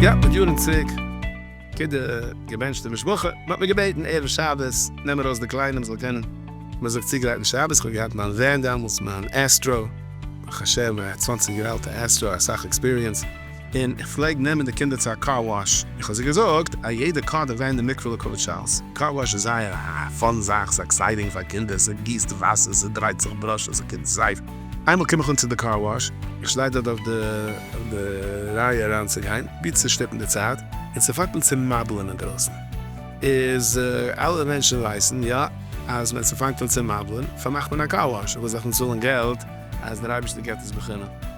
יא, מיט יארן צוריק קומט די געבענטשטע משפחה, מען האט מיר געבעטן ערב שבת נעם ארויס די קליינע מען זאל קענען מען זאל זיך צוגרייטן שבת, איך האב געהאט מיין ווען דעמאלטס, מיין עסטרא, ברוך השם א צוואנציג יאר אלטע עסטרא, אסאך עקספיריענס. און איך פלעג נעמען די קינדער צו א קאר וואש, איך האב זיי געזאגט אז יעדע קאר דארף גיין אין די מקווה לקבל שאוערס, קאר וואש איז זייער א פאן זאך, ס'איז עקסייטינג פאר קינדער, ס'גיסט וואסער, ס'דרייט זיך בראשעס, ס'קומט זייף, איינמאל קום איך אן צו די קאר וואש, איך שטיי דארט אויף די רייע אריין צו גיין, ווי צו שטופן די צייט, און ס'פאנגט אן צו מאבלען אינדרויסן, איז אלע מענטשן ווייסן יא אז ווען ס'פאנגט אן צו מאבלען פארמאכט מען א קאר וואש, איך וויל זיך נישט צאלן געלט אז דער אייבערשטער געבט עס בחינם.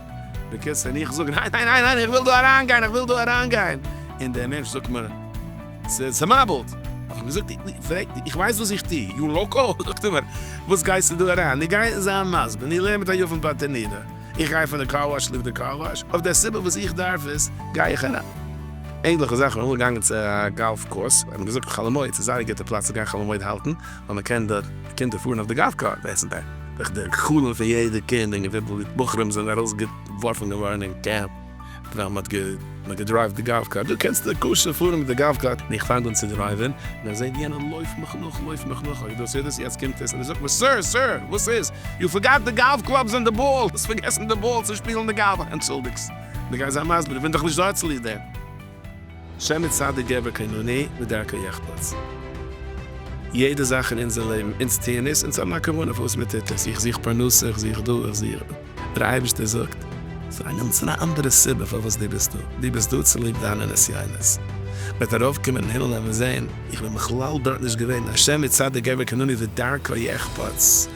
בקיצור, און איך זאג, ניין, ניין, ניין, איך וויל דא אריינגיין, איך וויל דא אריינגיין, און דער מענטש זאגט מיר, ס'איז צעמאבלט. האב איך געזאגט, פרעגט, איך ווייס וואס איך טו, יו לאקאל? זאגט ער מיר, וואס גייסטו דא אריין? איך גיי זיין מסביר, איך לערן מיט א יאר פון פאטענידע, איך גיי פון די קאר וואש לופט די קאר וואש, אויף די סיבה וואס איך דארף עס, גיי איך אריין. ענדליך איז זיך אן געגאנגען צו א גאלף קארס, האב איך געזאגט, חאלעמויד, ס'איז זייער א גוטע פלאץ צו גיין חאלעמויד האלטן, ווייל מען קען דארט די קינדער פארן אויף די גאלף קארט בעצם דער דאך די חלום פון יעדע קינד און וויפיל בחורים זענען ארויס געווארפן געווארן אין קעמפ ווייל מען האט געדרייווט די גאלף קארט דא קענסטו כשר פארן מיט די גאלף קארט און איך פאנג אן צו דרייווען און איך זעה די יענער לויפט מיך נאך לויפט מיך נאך איך דאס איז עס יעצט קומט עס און ער זאגט מיר סער סער וואס איז יו פארגאט די גאלף קלאבס און די באל האסט פארגעסן די באל צו שפילן די גאלף אנטשולדיגסט די גיי זיי מסביר איך בין דאך נישט דארט צוליב דעם. שם מצדיק גבר כינוני ודרכו יחפץ. יעדע זאך אין אונזער לעבן, אונז טוען עס, אונז האבן א כוונה פארוואס מען טוט עס, איך זוך פרנסה, איך זוך דא, איך זוך דא, דער אייבערשטער זאגט, זיי נאנט צו די אנדערע סיבה פארוואס דו ביסט דא, דו ביסט דא צוליב דיינע נסיונות, וועט ארויפקומען אין הימל ווען מיר זען, איך בין בכלל דארט נישט געווען, השם מצדיק גבר כינוני ודרכו יחפץ.